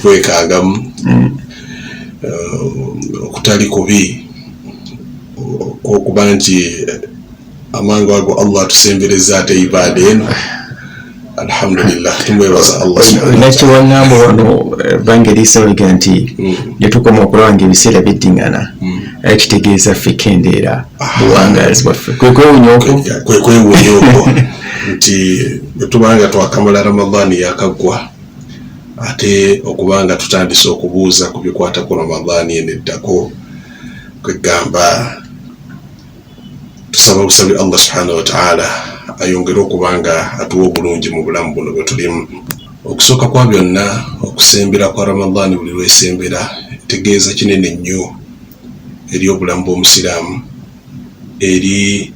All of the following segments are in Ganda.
kwekaagamu mm. uh, okutali kubi okwokuba nti amangu ago allah atusembereza ate ibaada eno alhamdulillah tumwebaza allah nakiwangamba wano eh, bangeri isawega nti mm. netukoma okulaba nga ebiseera biddingana mm. eh, kitegeeza ffe kendeera ah. buwangazi bwaffe kwekwewunya okwo kwekwewunya okwo nti bwetuba nga twakamala ramadan yakaggwa ate okuba nga tutandise okubuuza ku bikwata ku ramadan eno eddako kwegamba tusaba busabi allah subhanahu wataala ayongere okuba nga atuwa obulungi mu bulamu buno bwetulimu okusooka kwa byonna okusembera kwa ramadan buli lwesembera tegeeza kinene nnyo eri obulamu bw'omusiraamu eri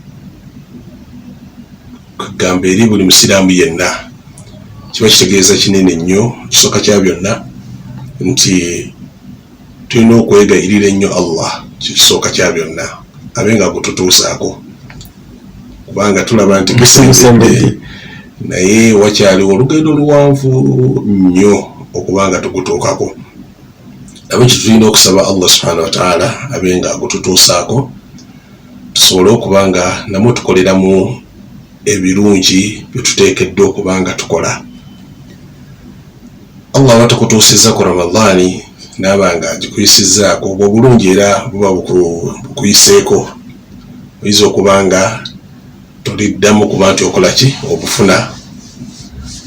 kagamba eri buli musiraamu yenna kiba kitegeeza kinene nnyo ekisooka kya byonna nti tulina okwegayirira ennyo allah kyekisooka kya byonna abe nga gututuusaako kubanga tulaba nti kisembedde naye wakyaliwo olugendo luwanvu nnyo okuba nga tugutuukako nabo kyetulina okusaba allah subhanahu wataala abe nga agututuusaako tusobole okuba nga namwe tukoleramu ebirungi byetuteekeddwa okuba nga tukola allah aba tukutuusizza ku ramadaani naaba nga agikuyisizzaako obwo obulungi era buba bukuyiseeko oyinza okuba nga tuliddamu kuba nti okola ki okufuna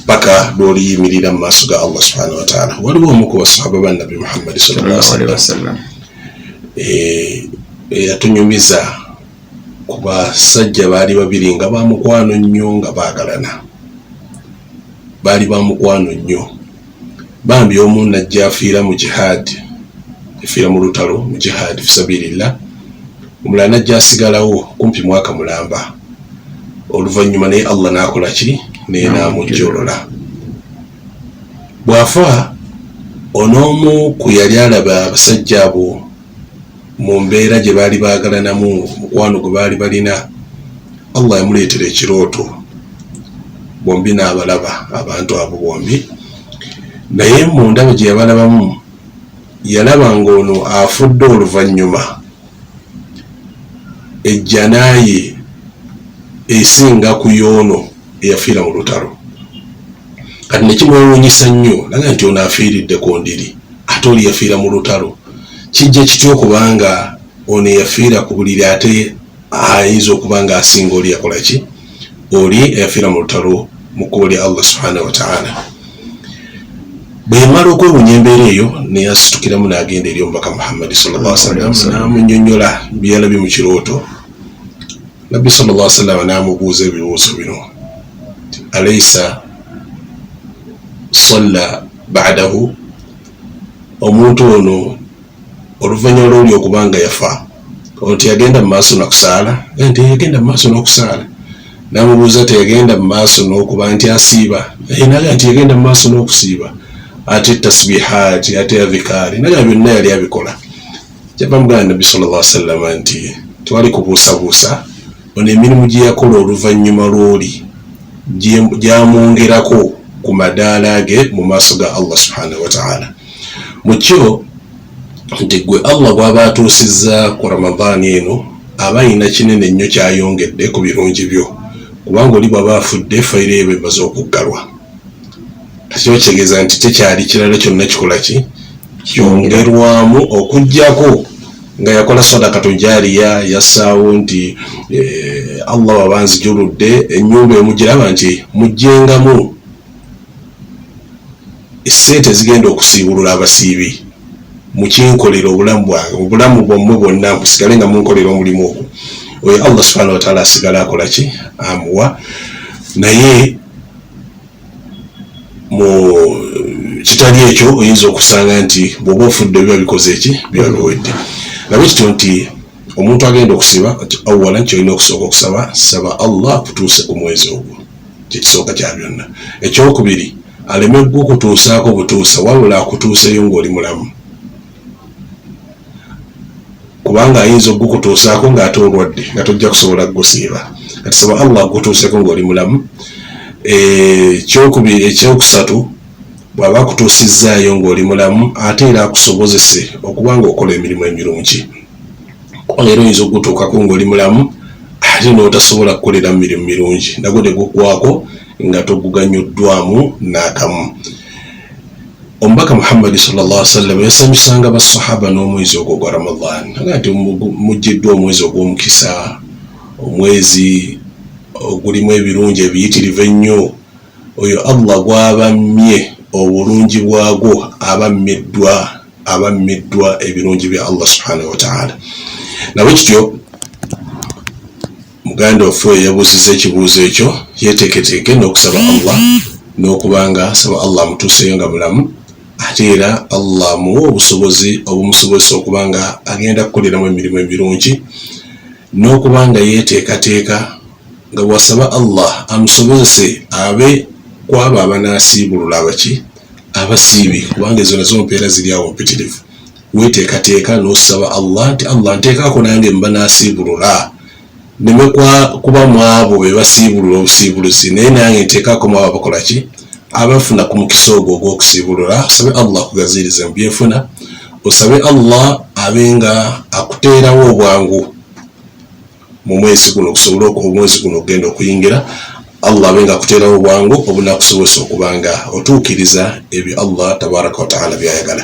paka lwoliyimirira mu maaso ga allah subhanahu wataala waliwo omu ku basahaba ba nabbi muhammadi sawasalam eh, eyatunyumiza ku basajja baali babiri nga bamukwano nnyo nga baagalana baali bamukwano nnyo Bambi omu najja afiira mu jihad efiira mu lutalo mu jihad fisabilillah omulala najja asigalawo kumpi mwaka mulamba oluvannyuma naye Allah nakola ki naye namujjolola bwafa onoomu ku yali alaba abasajja abo mu mbeera gye baali baagalanamu mukwano gwe baali balina allah yamuleetera ekirooto bombi n'abalaba abantu abo bombi naye mu ndabo gye yabalabamu yalaba ng'ono afudde oluvannyuma ejjanaaye esinga ku yoono eyafiira mu lutalo kati nekimwewunyisa nnyo naga nti ono afiiridde ku ndiri ate oli yafiira mu lutalo kijja kitya okubanga ono eyafiira ku buliri ate ayinza okuba nga asinga oli yakola ki oli eyafiira mu lutalo mu kkubo lya allah subhanahu wataala bwe yamala okwewunya embeera eyo neyasitukiramu n'agenda eri omubaka muhammadi sallallahu alaihi wasallam n'amunyonyola byeyalabye mu kirooto nabbi sallallahu alaihi wasallam n'amubuuza ebibuuzo bino alaisa salla badahu omuntu ono oluvanyuma lwoli okubanga yafa ono teyagenda mu maaso nakusaala nti yagenda mu maaso n'okusaala namubuuza teyagenda mu maaso n'okuba nti asiiba naye naga nti yagenda mu maaso n'okusiiba ate tasbihaati ate avikaari naga byonna yali abikola jabamugana nabbi sallallahu alaihi wasallam nti twali kubuusabuusa ono emirimu gye yakola oluvannyuma lw'oli gyamwongerako ku madaala ge mu maaso ga allah subhanahu wataala mu kyo nti gwe allah bw'aba atuusizza ku ramadaani eno aba alina kinene nnyo kyayongedde ku birungi byo kubanga oli bw'aba afudde fayiro eba emaze okuggalwa Kino kitegeeza nti tekyali kirala kyonna kikola ki kyongerwamu okujjako nga yakola sadakatu jariya yassaawo nti eh, allah waba nzijuludde enyumba emugiraba nti mujjengamu esente ezigenda okusiibulula abasiibi mukinkolera obulamu bwange obulamu bwammwe bwonna musigale nga munkolera omulimu ogwo oyo allah subhana wataala asigale akola ki amuwa naye mu kitali ekyo oyinza okusanga nti bwoba ofudde biba bikoze eki biba biwedde laba ekityo nti omuntu agenda okusiba nti awala nti olina okusooka okusaba saba allah akutuuse ku mwezi ogwo kyekisooka kya byonna ekyokubiri aleme gwe okutuusaako butuusa wabula akutuuseyo ngaoli mulamu kubanga ayinza okugukutuusaako ng'ate olwadde nga tojja kusobola kugusiiba kati saba allah akutuuseko ng'oli mulamu eh, kyokubiri ekyokusatu bw'aba akutuusizzaayo ng'oli mulamu ate era akusobozese okuba ng'okola emirimu emirungi kubanga era oyinza okugutuukako ng'oli mulamu ate n'otasobola kukolera mu mirimu mirungi nagwo tegukwako nga toguganyuddwamu n'akamu Omubaka Muhammad sallallahu alaihi wasallam yasanyusanga bassahaba n'omwezi ogwo gwa Ramadan nga nti mujjiddwa omwezi ogw'omukisa omwezi ogulimu ebirungi ebiyitirivu ennyo oyo Allah gwabammye obulungi bwagwo abammiddwa abammiddwa ebirungi bya Allah subhanahu wa ta'ala nabwe kityo Muganda waffe oyo yabuuzizza ekibuuzo ekyo yeeteeketeeke n'okusaba Allah n'okuba nga asaba Allah amutuuseeyo nga mulamu ate era Allah amuwa obusobozi obumusobozesa okuba nga agenda kukoleramu emirimu emirungi n'okuba nga yeeteekateeka nga bw'asaba Allah amusobozese abe ku abo abanaasiibulula abaki abasiibi kubanga ezo nazo mpeera ziri awo mpitirivu Weeteekateeka n'osaba Allah nti, Allah nteekako nange mba nasiibulula nneme kuba mw'abo be basiibulula obusiibuluzi naye nange nteekako mw'abo abakola ki abafuna ku mukisa ogwo ogw'okusiibulula osabe Allah akugaziirize mu byenfuna osabe Allah abe nga akuteerawo obwangu mu mwezi guno okusobola omwezi guno okugenda okuyingira Allah abe nga akuteerawo obwangu obunakusobozesa okuba nga otuukiriza ebyo Allah tabaraka wataala byayagala